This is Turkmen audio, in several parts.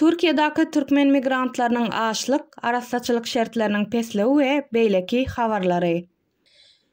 Türkiýedäki türkmen migrantlarynyň açlyk, arassaçylyk şertleriniň pesligi we beýleki habarlary.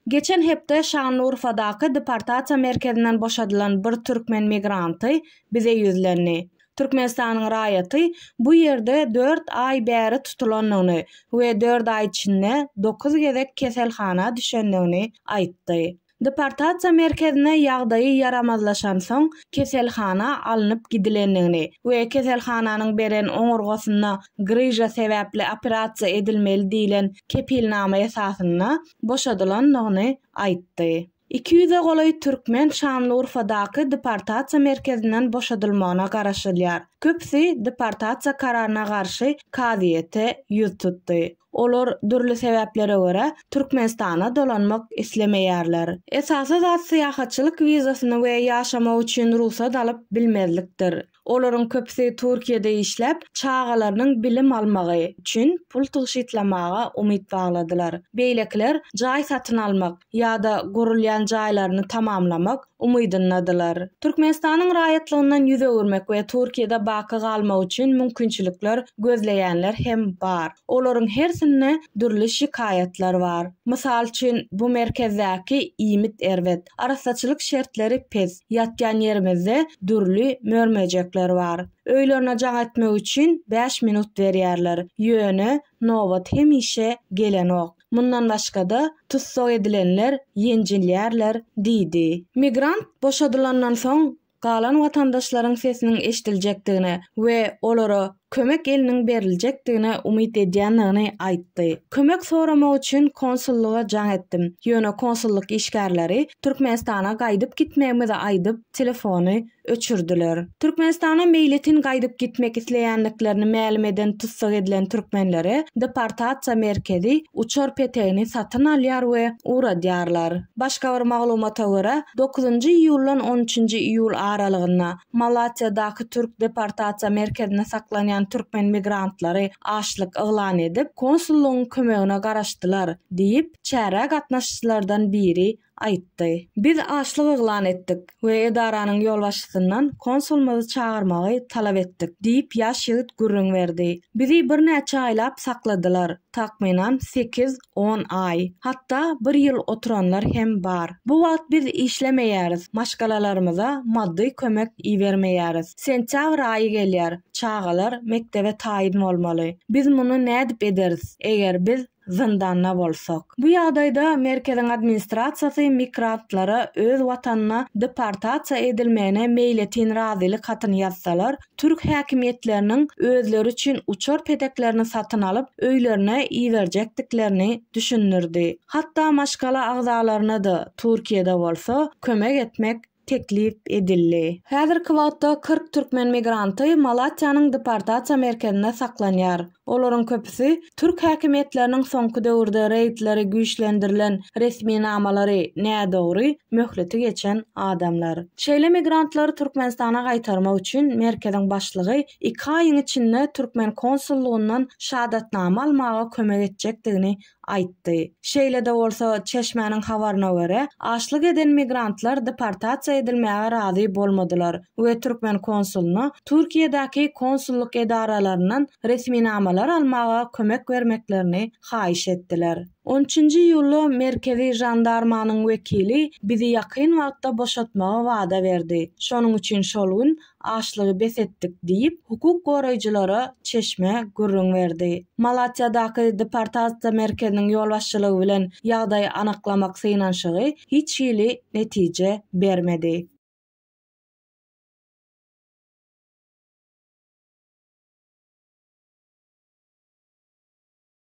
Geçen hepde Şanlyurfadaky deportasiýa merkezinden boşadylan bir türkmen migranty bize ýüzlendi. Türkmenistanyň raýaty bu ýerde dört aý bäri tutulandygyny we dört aý içinde dokuz gezek keselhana düşendigini aýtdy. Deportasiýa merkezine ýagdaýy ýaramazlaşansoň, keselhana alnyp gidilendigini we keselhananyň beren oňurgasynda gryža sebäpli operasiýa edilmeli diýlen kepilnama esasynda boşadylandygyny aýtdy. Iki ýüze golaý türkmen Şanlyurfadaky deportasiýa merkezinden boşadylmagyna garaşylýar. Köpüsi deportasiýa kararyna garşy kazyýete ýüz tutdy. Olar, dürli sebäplere görä, Türkmenistana dolanmak islemeýärler. Esasy zat syýahatçylyk wizasyny we ýaşamak üçin rugsat alyp bilmezlikdir. Olaryň köpüsi Türkiýede işläp, çagalarynyň bilim almagy üçin pul tygşytlamaga umyt bagladylar. Beýlekiler jaý satyn almak ýa-da gurulýan jaýlaryny tamamlamak umydyndadylar. Türkmenistanyň raýatlygyndan ýüz öwürmek we Türkiýede baky galmak üçin mümkinçilikler gözleýänler hem bar. Olaryň hersinde dürli şikaýatlar bar. Mysal üçin, bu merkezdäki iýmit erbet, arassaçylyk şertleri pes. Ýatýan ýerimizde dürli mör-möjekler bar. Öýlerine jaň etmek üçin bäş minut berýärler. Ýöne nobat hemişe gelenok. Mundan başga-da, tussag edilenler ýenjilýärler diýdi. Migrant boşadylandan soň galan watandaşlaryň sesiniň eşidiljekdigine we olara kömek eliniň beriljekdigine umyt edýändigini aýtdy. Kömek soramak üçin konsullyga jaň etdim, ýöne konsullyk işgärleri Türkmenistana gaýdyp gitmegimizi aýdyp, telefony öçürdiler. Türkmenistana meýletin gaýdyp gitmek isleýändiklerini mälim eden tussag edilen türkmenlere deportasiýa merkezi uçar petegini satyn alýar we ugradýarlar. Başga bir maglumata görä, dokuzynjy iýuldan on üçünji iýul aralygynda Malatýadaky türk deportasiýa merkezinde saklanýan türkmen migrantlary açlyk yglan edip, konsullygyň kömegine garaşdylar diýip, çärä gatnaşyjylardan biri aýtdy. Biz açlyk yglan etdik we edaranyň ýolbaşçysyndan konsulymyzy çagyrmagy talap etdik diýip, ýaş ýigit gürrüň berdi. Bizi birnäçe aýlap sakladylar, takmynan sekiz, On aý, hatda bir ýyl oturanlar hem bar. Bu wagt biz işlemeýäris, maşgalalarymyza maddy kömek ibermeýäris. Sentýabr aýy gelýär, çagalar mekdebe taýyn bolmaly. Biz muny nädip ederis, eger biz zyndanda bolsak? Bu ýagdaýda merkeziň administrasiýasy migrantlara öz watanyna deportasiýa edilmegine meýletin razylyk hatyny ýazsalar, Türk häkimiýetleriniň özleri üçin uçar peteklerini satyn alyp, öýlerine iberjekdiklerini düşündirdi. Hatda maşgala agzalaryna-da, Türkiýede bolsa, kömek etmek teklip edildi. Häzirki wagtda kyrk türkmen migranty Malatýanyň deportasiýa merkezinde saklanýar. Olaryň köpüsi türk häkimiýetleriniň soňky döwürde reýdleri güýçlendirilen resminamalary nädogry, möhleti geçen adamlar. Şeýle migrantlary Türkmenistana gaýtarmak üçin merkeziň başlygy iki aýyň içinde türkmen konsullygyndan şadatnama almaga kömek etjekdigini aýtdy. Şeýle-de bolsa, çeşmäniň habaryna görä, açlyk eden migrantlar deportasiýa edilmäge razy bolmadylar we türkmen konsuluna Türkiýedäki konsullyk edaralaryndan resminamalar almaga kömek bermeklerini haýyş etdiler. On üçünji iýulda Merkezi žandarmanyň wekili bizi ýakyn wagtda boşatmagy wada berdi. Şonuň üçin şol gün Açlygy bes etdik, diýip, hukuk goraýjylara çeşme gürrüň berdi. Malatýadaky deportasiýa merkeziniň ýolbaşçylygy bilen ýagdaýy anyklamak synanyşygy hiç hili netije bermedi.